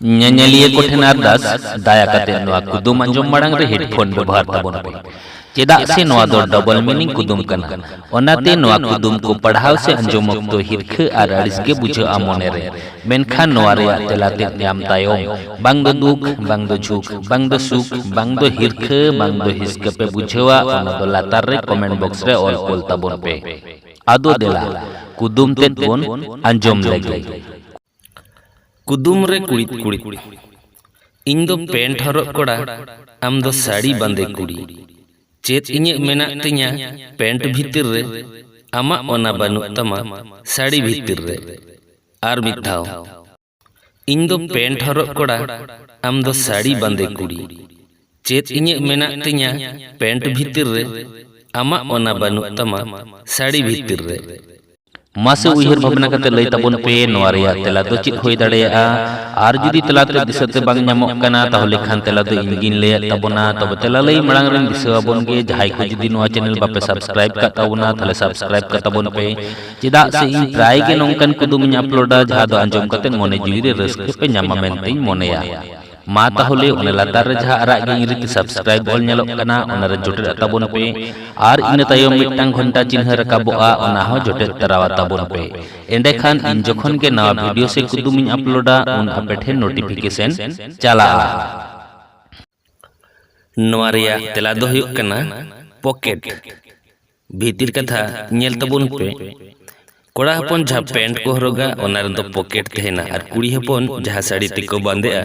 ᱧᱮᱧᱮᱞᱤᱭᱟᱹ ᱠᱚ ᱴᱷᱮᱱ ᱟᱨᱫᱟᱥ ᱫᱟᱭᱟ ᱠᱟᱛᱮ ᱱᱚᱣᱟ ᱠᱩᱫᱩᱢ ᱟᱸᱡᱚᱢ ᱢᱟᱲᱟᱝ ᱨᱮ ᱦᱮᱰᱯᱷᱳᱱ ᱵᱮᱵᱚᱦᱟᱨ ᱛᱟᱵᱚᱱ ᱯᱮ ᱪᱮᱫᱟᱜ ᱥᱮ ᱱᱚᱣᱟ ᱫᱚ ᱰᱚᱵᱚᱞ ᱢᱤᱱᱤᱝ ᱠᱩᱫᱩᱢ ᱠᱟᱱᱟ ᱚᱱᱟᱛᱮ ᱱᱚᱣᱟ ᱠᱩᱫᱩᱢ ᱠᱚ ᱯᱟᱲᱦᱟᱣ ᱥᱮ ᱟᱸᱡᱚᱢ ᱚᱠᱛᱚ ᱦᱤᱨᱠᱷᱟᱹ ᱟᱨ ᱟᱹᱲᱤᱥ ᱜᱮ ᱵᱩᱡᱷᱟᱹᱜᱼᱟ ᱢᱚᱱᱮ ᱨᱮ ᱢᱮᱱᱠᱷᱟᱱ ᱱᱚᱣᱟ ᱨᱮᱭᱟᱜ ᱛᱮᱞᱟ ᱛᱮᱫ ᱧᱟᱢ ᱛᱟᱭᱚᱢ ᱵᱟᱝ ᱫᱚ ᱫᱩᱠ ᱵᱟᱝ ᱫᱚ ᱡᱷᱩᱠ ᱵᱟᱝ ᱫᱚ ᱥᱩᱠ ᱵᱟᱝ ᱫᱚ ᱦᱤᱨᱠᱷᱟᱹ ᱵᱟᱝ ᱫᱚ ᱦᱤᱥᱠᱟᱹ ᱯᱮ ᱵᱩᱡᱷᱟᱹᱣᱟ ᱚᱱᱟ ᱫᱚ ᱞᱟᱛᱟᱨ ᱨᱮ ᱠᱚᱢᱮᱱᱴ ᱵᱚᱠᱥ ᱨᱮ ᱚᱞ ᱠᱚᱞ ᱛᱟᱵᱚᱱ ᱯᱮ ᱟᱫᱚ ᱫᱮᱞᱟ ᱠᱩᱫᱩᱢ ᱛᱮᱫ ᱵᱚᱱ ᱟᱸᱡᱚᱢ ᱞᱮᱜᱮ ᱠᱩᱫᱩᱢ ᱨᱮ ᱠᱩᱲᱤᱫ ᱠᱩᱲᱤᱫ ᱤᱧ ᱫᱚ ᱯᱮᱱᱴ ᱦᱚᱨᱚᱜ ᱠᱚᱲᱟ ᱟᱢ ᱫᱚ ᱥᱟᱹᱲᱤ ᱵᱟᱸᱫᱮ ᱠᱩᱲᱤ ᱪᱮᱫ ᱤᱧᱟᱹᱜ ᱢᱮᱱᱟᱜ ᱛᱤᱧᱟ ᱯᱮᱱᱴ ᱵᱷᱤᱛᱤᱨ ᱨᱮ ᱟᱢᱟᱜ ᱚᱱᱟ ᱵᱟᱹᱱᱩᱜ ᱛᱟᱢᱟ ᱥᱟᱹᱲᱤ ᱵᱷᱤᱛᱤᱨ ᱨᱮ ᱟᱨ ᱢᱤᱫ ᱫᱷᱟᱣ ᱤᱧ ᱫᱚ ᱯᱮᱱᱴ ᱦᱚᱨᱚᱜ ᱠᱚᱲᱟ ᱟᱢ ᱫᱚ ᱥᱟᱹᱲᱤ ᱵᱟᱸᱫᱮ ᱠᱩᱲᱤ ᱪᱮᱫ ᱤᱧᱟᱹᱜ ᱢᱮᱱᱟᱜ ᱛᱤᱧᱟᱹ ᱯᱮᱱᱴ ᱵᱷᱤᱛᱤᱨ ᱨᱮ ᱟᱢᱟᱜ ᱚᱱᱟ ᱵᱟᱹᱱᱩᱜ ᱛᱟᱢᱟ ᱥᱟᱹᱲᱤ ᱵᱷᱤᱛᱤᱨ ᱨᱮ ᱢᱟᱥᱮ ᱩᱭᱦᱟᱹᱨ ᱵᱷᱟᱵᱽᱱᱟ ᱠᱟᱛᱮ ᱞᱟᱹᱭ ᱛᱟᱵᱚᱱ ᱯᱮ ᱱᱚᱣᱟ ᱨᱮᱭᱟᱜ ᱛᱮᱞᱟ ᱫᱚ ᱪᱮᱫ ᱦᱩᱭ ᱫᱟᱲᱮᱭᱟᱜᱼᱟ ᱟᱨ ᱡᱩᱫᱤ ᱛᱮᱞᱟ ᱛᱮ ᱫᱤᱥᱟᱹᱛᱮ ᱵᱟᱝ ᱧᱟᱢᱚᱜ ᱠᱟᱱᱟ ᱛᱟᱦᱚᱞᱮ ᱠᱷᱟᱱ ᱛᱮᱞᱟ ᱫᱚ ᱤᱧ ᱜᱤᱧ ᱞᱟᱹᱭᱟᱫ ᱛᱟᱵᱚᱱᱟ ᱛᱚᱵᱮ ᱛᱮᱞᱟ ᱞᱟᱹᱭ ᱢᱟᱲᱟᱝ ᱨᱮᱧ ᱫᱤᱥᱟᱹ ᱟᱵᱚᱱ ᱜᱮ ᱡᱟᱦᱟᱸᱭ ᱠᱚ ᱡᱩᱫᱤ ᱱᱚᱣᱟ ᱪᱮᱱᱮᱞ ᱵᱟᱯᱮ ᱥᱟᱵᱥᱠᱨᱟᱭᱤᱵ ᱠᱟᱜ ᱛᱟᱵᱚᱱᱟ ᱛᱟᱦᱚᱞᱮ ᱥᱟᱵᱥᱠᱨᱟᱭᱤᱵ ᱠᱟᱜ ᱛᱟᱵᱚᱱ ᱯᱮ ᱪᱮᱫᱟᱜ ᱥᱮ ᱤᱧ ᱯᱨᱟᱭ ᱜᱮ ᱱᱚᱝᱠᱟᱱ ᱠᱩᱫᱩᱢᱤᱧ ᱟᱯᱞᱳᱰᱟ ᱡᱟᱦᱟᱸ ᱫᱚ ᱟᱸᱡᱚᱢ ᱠᱟᱛᱮ ᱢᱚᱱᱮ ᱡᱤᱣᱤ ᱨᱮ ᱨᱟᱹᱥᱠᱟᱹ ᱯᱮ ᱧᱟᱢᱟ ᱢᱮᱱᱛᱮᱧ ᱢᱚᱱᱮᱭᱟ ᱢᱟ ᱛᱟᱦᱚᱞᱮ ᱚᱱᱟ ᱞᱟᱛᱟᱨ ᱨᱮ ᱡᱟᱦᱟᱸ ᱟᱨᱟᱜ ᱜᱮ ᱤᱝᱨᱮᱡᱤ ᱛᱮ ᱥᱟᱵᱥᱠᱨᱟᱭᱤᱵ ᱚᱞ ᱧᱮᱞᱚᱜ ᱠᱟᱱᱟ ᱚᱱᱟ ᱨᱮ ᱡᱚᱴᱮᱫ ᱛᱟᱵᱚᱱ ᱯᱮ ᱟᱨ ᱤᱱᱟᱹ ᱛᱟᱭᱚᱢ ᱢᱤᱫᱴᱟᱝ ᱜᱷᱚᱱᱴᱟ ᱪᱤᱱᱦᱟᱹ ᱨᱟᱠᱟᱵᱚᱜᱼᱟ ᱚᱱᱟ ᱦᱚᱸ ᱡᱚᱴᱮᱫ ᱛᱟᱨᱟᱣᱟ ᱛᱟᱵᱚᱱ ᱯᱮ ᱮᱸᱰᱮᱠᱷᱟᱱ ᱤᱧ ᱡᱚᱠᱷᱚᱱ ᱜᱮ ᱱᱟᱣᱟ ᱵᱷᱤᱰᱤᱭᱳ ᱥᱮ ᱠᱩᱫᱩᱢ ᱤᱧ ᱟᱯᱞᱳᱰᱟ ᱩᱱ ᱟᱯᱮ ᱴᱷᱮᱱ ᱱᱳᱴᱤᱯᱷᱤᱠᱮᱥᱚᱱ ᱪᱟᱞᱟᱜᱼᱟ ᱱᱚᱣᱟ ᱨᱮᱭᱟᱜ ᱛᱮᱞᱟ ᱫᱚ ᱦᱩᱭᱩᱜ ᱠᱟᱱᱟ ᱯᱚᱠᱮᱴ ᱵᱷᱤᱛᱤᱨ ᱠᱟᱛᱷᱟ ᱧᱮᱞ ᱛᱟᱵᱚᱱ ᱯᱮ ᱠᱚᱲᱟ ᱦᱚᱯᱚᱱ ᱡᱟᱦᱟᱸ ᱯᱮᱱᱴ ᱠᱚ ᱦᱚᱨᱚᱜᱟ ᱚᱱᱟ ᱨᱮᱫᱚ ᱯᱚᱠᱮᱴ ᱛᱟᱦᱮᱱᱟ ᱟᱨ ᱠᱩᱲᱤ ᱦᱚᱯᱚᱱ ᱡᱟᱦᱟᱸ ᱥᱟᱹᱲᱤ ᱛᱮᱠᱚ ᱵᱟᱸᱫᱮᱜᱼᱟ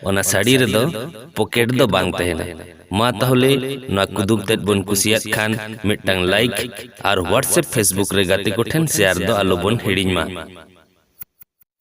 ᱚᱱᱟ ᱥᱟᱹᱲᱤ ᱨᱮᱫᱚ ᱯᱚᱠᱮᱴ ᱫᱚ ᱵᱟᱝ ᱛᱟᱦᱮᱱᱟ ᱢᱟ ᱛᱟᱦᱚᱞᱮ ᱱᱚᱣᱟ ᱠᱩᱫᱩᱵ ᱛᱮᱫ ᱵᱚᱱ ᱠᱩᱥᱤᱭᱟᱜ ᱠᱷᱟᱱ ᱢᱤᱫᱴᱟᱝ ᱞᱟᱭᱤᱠ ᱟᱨ ᱦᱳᱣᱟᱴᱥᱮᱯ ᱯᱷᱮᱥᱵᱩᱠ ᱨᱮ ᱜᱟᱛᱮ ᱠᱚᱴᱷᱮᱱ ᱥᱮᱭᱟᱨ ᱫᱚ ᱟᱞᱚᱵᱚᱱ ᱦᱤᱲᱤᱧ ᱢᱟ